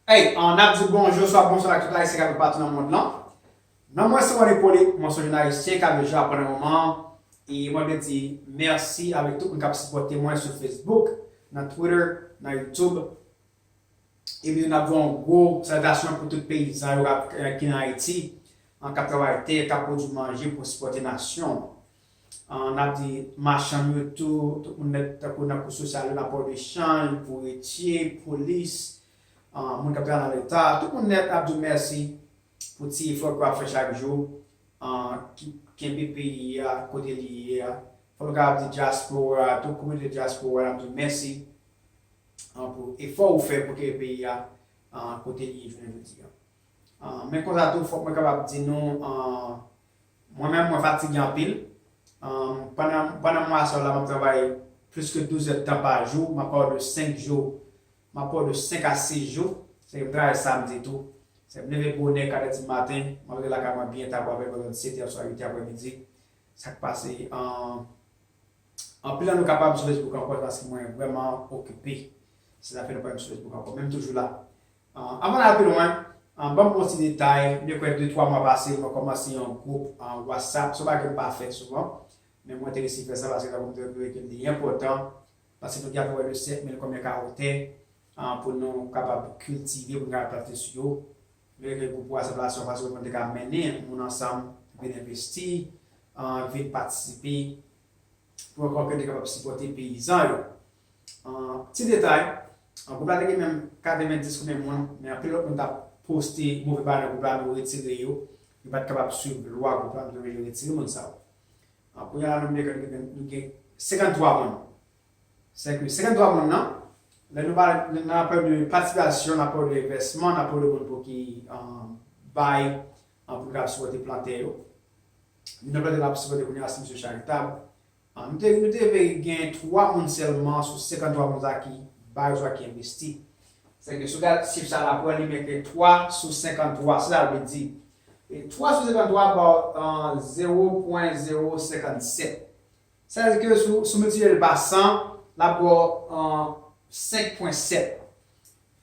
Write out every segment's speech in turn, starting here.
Hey, an ap di bonjou, swa bonswa ak tout Ayisyen k ap viv patou nan mond lan. Non mwen se Ron Hyppolite, mwen se yon joun Ayisyen k ap viv Japon nan moman an, e mwen vle di mèsi avèk tout moun k ap sipòte mwen sou Facebook, nan Twitter, nan YouTube. E pitou n ap di yon gwo saltasyon pou tout peyizan yo k ap ki nan Ayiti, k ap travay tè, k ap pwodui manje pou sipòte nasyon an. An ap di machann yo tou, tout moun nèt tankou nan kou sosyal yo, nan pò de chanj, bouretye, polis, moun k ap travay nan leta, tout moun nèt ap di w mèsi pou ti efò ke w ap fè chak jou ki kenbe peyi a kote li ye a. Fò nou kapab di dyaspora a tou, kominote dyaspora a n ap di w mèsi pou efò ou fè pou kenbe peyi a kote li ye jounen jodi a. Men konsa tou fòk mwen kapab di nou Mwen menm mwen fatige anpil. Pandan mwa sa yo la m ap travay plis ke 12 èdtan pa jou. M ap pale w de 5 jou, m ap pale w de 5 a 6 jou. Sa vle di m travay samdi tou. Sa vle di m leve bonè, 4 èdi maten, m ap rive lakay mwen byen ta bò avèk lòt 7 è oswa 8 è aprè midi. Sa k pase anpil nan nou ka pa m sou Facebook ankò se paske mwen vrèman okipe. Se sa k fè nou pa wè m sou Facebook ankò. Men m toujou la. Avan n al pi lwen, ban m on ti detay, byen kwè de twa mwa pase mwen kòmanse yon gwoup Whatsapp, se yon bagay m pa fè souvan, men mwen te resi fè sa paske tankou m te di nou ke li enpòtan, paske nou gen apeprè de 5000 konbyen ka ou tè pou nou kapab kiltive, pou nou kapab plante sou yo, nou te kreye gwoup Whatsapp la se yon fason pou nou te ka mennen moun ansanm vin envesti, vin patisipe. pou yon kòb yo te kapab sipòte peyizan yo. An ti detay, gwoup la te gen menm 90 koumen moun, men anpil lòt moun t ap poste move banè gwoup la nou retire yo, yo pa t kapab swiv lwa gwoup la nou te vle yo retire moun sa yo. Kounye a la nan Blèkèt nou gen nou gen 53 moun. Sèke 53 moun nan, lè nou pale lè n ap pale de patipasyon, n ap pale de envèsman, n ap pale de moun pou ki bay pou l kapab sipòte plantè yo. Moun ap gade lap sipòte kounya si misye charitab. Nou te nou te veye gen 3 moun sèlman sou 53 moun sa ki bay oswa ki envesti. Sèke si w gad chif sa lap wè li mete 3 sou 53 se sa l vle di. E 3 sou 53 ba w 0.057. Sa vle di ke si w miltipliye l pa 100 lap ba w 5.7.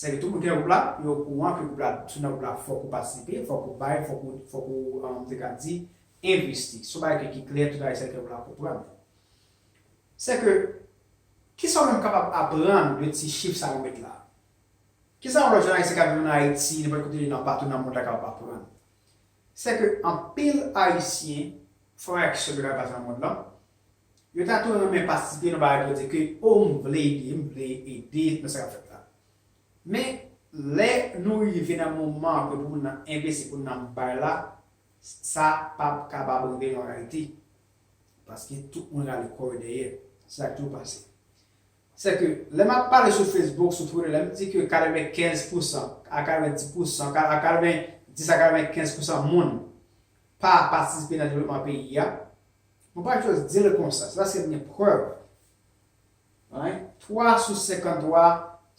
Sèke tout moun ki nan gwoup la, yo okouran ke gwoup la, si w nan gwoup la fòk ou patisipe, fòk ou bay, fòk ou, fòk ou, m te ka di, envesti. Se yon bagay ki klè, tout Ayisyen ki nan gwoup la konprann li. Sèke, kisa ou menm kapab aprann de ti chif sa yo met la? Kisa yon lòt jèn Ayisyen k ap viv ann Ayiti, nenpòt kote li nan, patou nan mond la kapab aprann? Sèke anpil Ayisyen fè yon aksyon ki bay baz nan mond lan, Yo ta tou renmen patisipe nan bagay pou di ke oh m vle ede, m vle ede nan sa k ap fèt la. Men, lè nou rive nan moman ke pou moun nan envesti, pou moun nan bay la, sa p ap kapab rive an reyalite. Paske tout moun rale kò yo dèyè. Se sa k toujou pase. Se ke, lè m ap pale sou Facebook, sou Twitter, lè m di ke 95 pousan a 90 pousan, a 90 a 95 pousan moun pa patisipe nan devlopman peyi a, Mwen pa just di l konsa, se paske m gen prèv. Alright? 3 sou 53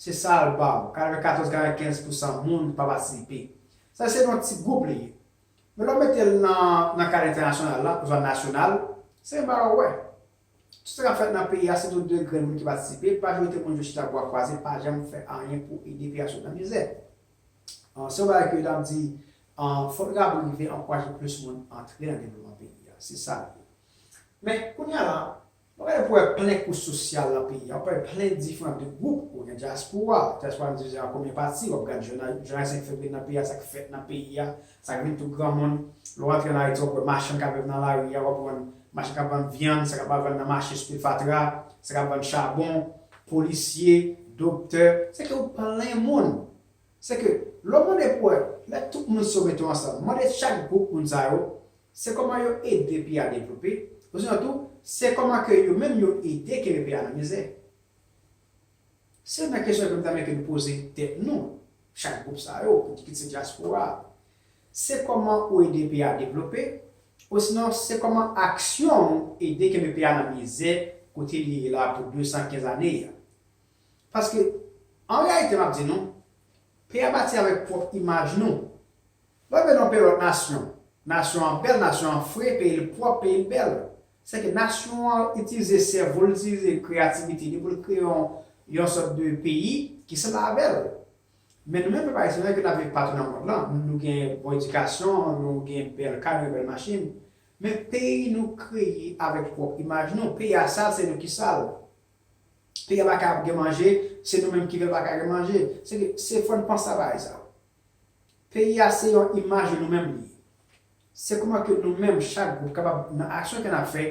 se sa l ba w. 94, 95 pousan moun pa patisipe. Sa se nan ti gwoup li ye. Men lè w mete l nan kad entènasyonal la oswa nasyonal, se menm bagay w wè. Tout sa k ap fèt nan peyi a se tou de grenn moun ki patisipe, majorite moun yo chita bwa kwaze pa janm fè anyen pou ede peyi a sot nan mizè. Se yon bagay ke yo tap di fok li kapab rive ankouraje plis moun antre nan devlopman peyi a. Se sa li ye. Men, kounya la, wap gade pou wè plen kous sosyal nan peyi a, wap wè plen diferan de gwoup. Ou gen dyaspora, dyaspora an divize an konbyen pati, wap gade jounalis 5 fevriye nan peyi a, sa k fèt nan peyi a, Sa gen tout granmoun. Lè w antre ann Ayiti w ap wè machann k ap viv nan lari a, w ap wè machann k ap vann vyann, sa k ap al vann nan mache sou fatra, sa k ap vann chabon, polisye, doktè. Sèke ou plen moun. Sèke lè w mande pou wè, lè tout moun si yo mete yo ansanm, mande chak gwoup moun sa yo, se kòman yo ede peyi a devlope, osinon tou, se kòman ke yo menm yo ede kenbe peyi a nan mizè. Se menm kesyon ke m ta mete m poze tèt nou, chak gwoup sa yo, ki kit se dyaspora a. Se kòman ou ede peyi a devlope, osinon se kòman aksyon ou ede kenbe peyi a nan mizè kote li ye la pou 215 ane a. Paske, an reyalite m ap di nou, peyi a bati avèk pwòp imaj nou. Lè w vin nan yon peyi lòt nasyon, nasyon an bèl, nasyon an fre, peyi l pwòp, peyi l bèl. Se ke nasyon an itilize sèvo l, itilize kreyativite li pou l kreye yon yon sòt de peyi ki sanble avè l. Men nou menm pèp ayisyen nou wè ke n ap viv patou nan mond lan, nou gen bon edikasyon, nou gen bèl kay, nou gen bèl machin, men peyi nou kreye avèk pwòp imaj nou. Peyi a sal, se nou ki sa l. Peyi a pa ka ap gen manje, se nou menm ki fè l pa ka gen manje. Se ke se fò n panse a bagay sa yo. Peyi a se yon imaj nou menm li ye. Se kouman ke nou menm chak gwoup kapab nan aksyon ke nap fè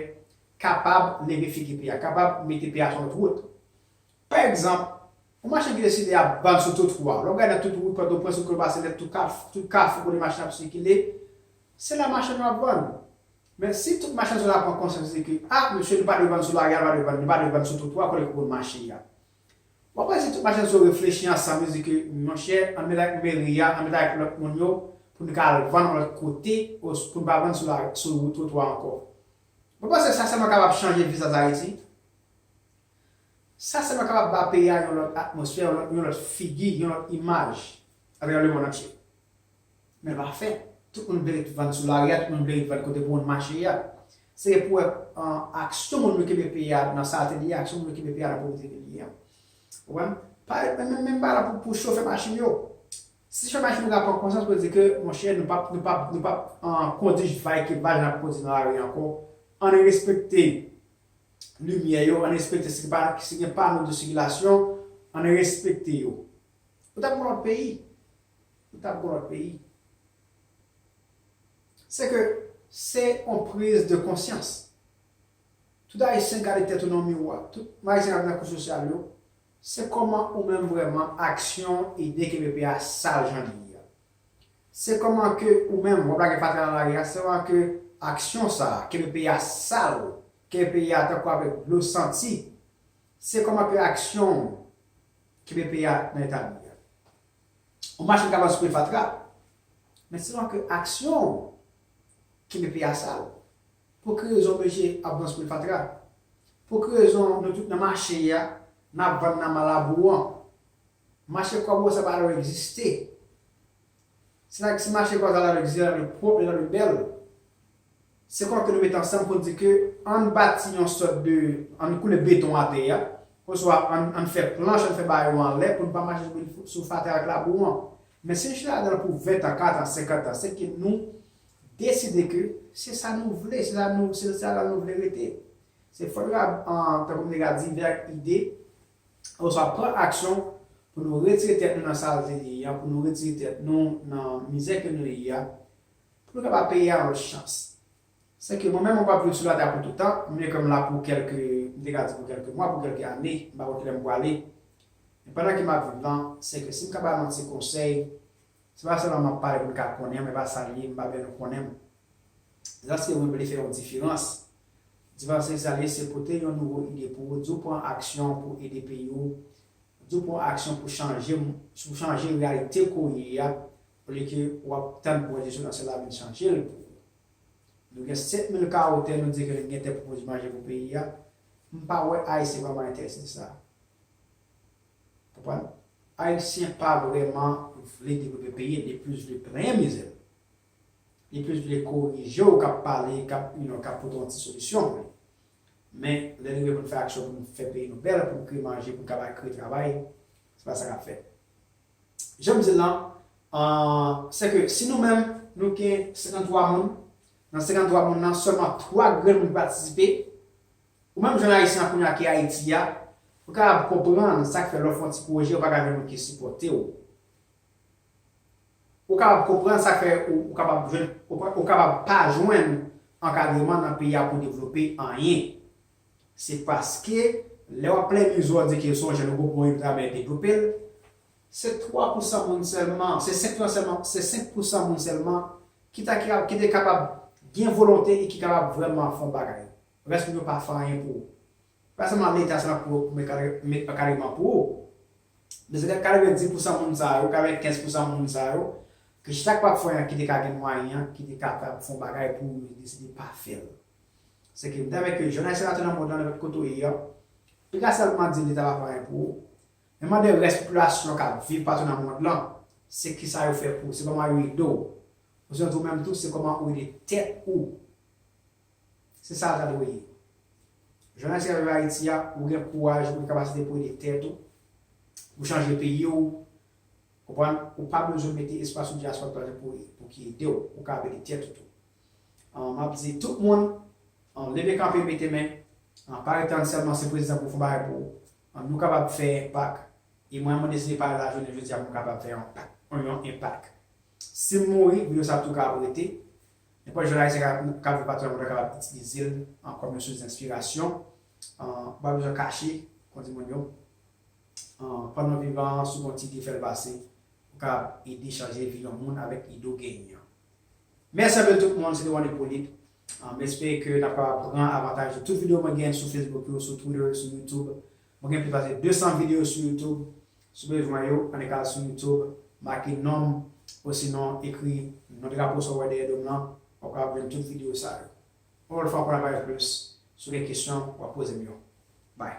kapab leve figi peyi a, kapab mete peyi a sou lòt wout. Pa egzanp, yon machin ki deside ap vann sou twotwa, lè w gade nan tout wout Pòtoprens, wout Kòlbasinet, tout kafou, tout kafou kote machin ap sikile, se la machann yo ap vann. Men si tout machann sa yo ta pran konsyans yo di ke, a, mesye nou pa dwe vann sou lari a, nou pa dwe vann, nou pa dwe vann sou twotwa kote ke moun mache a. Mwen kwè si tout machann zo reflechi ansanm yo di ke monchè an met ak meri a, an met ak lòt moun yo pou nou ka al vann yon lòt kote os pou nou pa vann sou la sou twotwa ankò. Mwen panse sa sèlman kapab chanje vizaj Ayiti. Sa sèlman kapab ba peyi a yon lòt atmosfè, yon lòt figi, yon lòt imaj atravè lemonn antye. Men pa fè. Tout moun vle ret vann sou lari a, tout moun vle ret vann kote moun mache a. Se pou wè aksyon moun yo kenbe peyi a nan salte li ye, aksyon moun yo kenbe peyi a nan povrete li ye. Ou konprann? Menm bagay la pou chofè machin yo. Si chofè machin yo ta pran konsyans pou yo di ke monchè nou pap nou pap nou pap kondi vay ki vay jan n ap kondi nan lari ankò, ann respekte limyè yo, ann respekte si pa si gen pano de sikilasyon, ann respekte yo. Ou ta pran lòt peyi. ou tap gon lòt peyi. Se ke se on priz de konsyans. Tout ayisyen gade tèt ou nan miwa, tout ayisyen kap nan kou sosyal yo, se kòman ou menm vrèman aksyon ide ke pepe a sal jan li ye a. Se kòman ke ou menm wap lage fatra nan lari a, se kòman ke aksyon sa a, ke pepe a sal, ke pepe a tankou avèk dlo santi, se kòman ke aksyon ou, ke pepe a nan eta li a. Yon machann kapab simen fatra, men sèlman ke aksyon ou kenbe peyi a sal. Pou ki rezon mesye ap vanspil fatra? Pou ki rezon nou tout nan mache a, n ap vann nan malabou an? Mache kòbo sa pa dwe egziste. Si mache kòbo sa ta dwe egziste, li ta dwe pwòp, li ta dwe bèl. Se kò ke nou mete ansanm pou n di ke ann bati yon sòt de, ann koule beton atè a, oswa ann fè planch, ann fè ba yo anlè pou n pa mache sou fatra ak labou an. Men si n chita ladan l pou ventan, kantan, senkantan, se ke nou deside ke se sa nou vle, se sa nou, se ladan l nou vle rete. Se fòt rab an, tankou m te ka di, vèk ide, oswa pran aksyon pou nou retire tèt nou nan salte n ye an, pou nou retire tèt nou nan mizè ke nou ye a, Pou nou kapab peye a lòt chans. Sèke mwen menm mwen p ap viv sou latè a pou toutan, m vle ke m la pou kèlke, m te ka di pou kèlke mwa, pou kèlke ane, m pa konn kilè m pwale. Men pandan ke m ap viv lan, sèke si m ka ba nou yon ti konsèy, se pa sèlman m ap pale pou n ka konnen, mwen pa sa l ye, m pa vle nou konnen m. Zaske mwen vle fè yon diferans. Diferans se sa l ye, se pote yon nouvo ide pou ou, di w pran aksyon pou ede peyi w, di w pran aksyon pou chanje, pou chanje reyalite ke w ye a, Olye ke ou ap tann pou Enstitisyon Nasyonal la vin chanje l pou ou. Nou gen 7 mil kawo tè nou di ke nou gen tè pou pwodui manje pou peyi a. M pa wè Ayisyen vrèman enterese nan sa. Konprann? Ayisyen pa vrèman vle devlope peyi l, li plis vle plenyen mizè l. Li plis vle korije w k ap pale, k ap you know, k ap pote yon ti solisyon pou li. Men, lè li rive pou n fè aksyon pou n fè peyi nou bèl, pou n kreye manje, pou n kapab kreye travay, se pa sa k ap fèt. Jan m di l lan, se ke si nou menm nou gen 53 moun, nan 53 moun lan sèlman 3 grenn moun patisipe, ou menm jèn ayisyen kounye a ki Ayiti a, ou kapab konprann sa k fè lè w fè yon ti pwojè ou pa ka jwenn moun ki sipòte w. Ou kapab konprann sa k fè ou kapab jwenn, ou kapab pa jwenn ankadreman nan peyi a pou w devlope anyen. Se paske, lè wap plenn yon zo di ke son jèn gwo pou yon travayè devlope l, se 3 pousan moun sèlman, se 5 lan sèlman, se 5 pousan moun sèlman ki ta ki ap, ki te kapab gen volonte e ki kapab vrèman fè yon bagay. Rès moun yo pa fè anyen pou ou. Se pa sèlman leta sèlman ki pou met kadre, met ankadreman pou ou. Men se lè 90 pousan moun sa yo, 95 pousan moun sa yo, ki chita ki pap fè anyen ki te ka gen mwayen an, ki te kapab fè yon bagay pou yo deside pa fè l. Se ke m ta renmen ke jèn Ayisyen la tou nan mond lan, nenpòt kote ou ye a, li ka sèlman di li ta va fè anyen pou ou, men mande rès popilasyon k ap viv patou nan mond lan, se kisa yo fè pou ou, se kòman yo ede w. Osinon tou ou menm tou, se kòman ou ede tèt ou. Se sa l ta dwe ye. Jèn Ayisyen k ap viv Ayiti a, ou gen kouraj, ou gen kapasite pou ede tèt ou, pou chanje peyi ou, konprann, ou pa bezwen mete espas ou di a se pa w k pou ede w, ou kapab ede tèt ou tou. M ap di tout moun an leve kanpe mete men an pa rete tann sèlman se prezidan pou fon bagay pou ou an nou kapab fè enpak e mwen mwen deside pale la jounen jodi a pou m kapab fè yon pak yon enpak si m mouri video sa tou kapab rete nenpòt jèn ayisyen ka ka viv pati nan mond lan kapab itilize l an kòm yon sous denspirasyon an ou pa bezwen kache kon di moun yo an pandan w vivan an si w gen yon ti ide fè l pase pou kapab ede chanje vi yon moun avèk ide w genyen an. Mèsi anpil tout moun, se te One Ipolit. M espere ke n ap kapab pran avantaj de tout videyo mwen gen sou Facebook yo, sou Twitter, sou YouTube. Mwen gen plis pase 200 videyo sou YouTube. Si w bezwen yo, annik al sou YouTube, make non m, osinon ekri non drapo sa w wè dèyè do m lan, w ap kapab jwenn tout videyo sa yo. Yon lòt fwa pou n ap pale plis, si w gen kesyon, w ap poze m yo. Bye!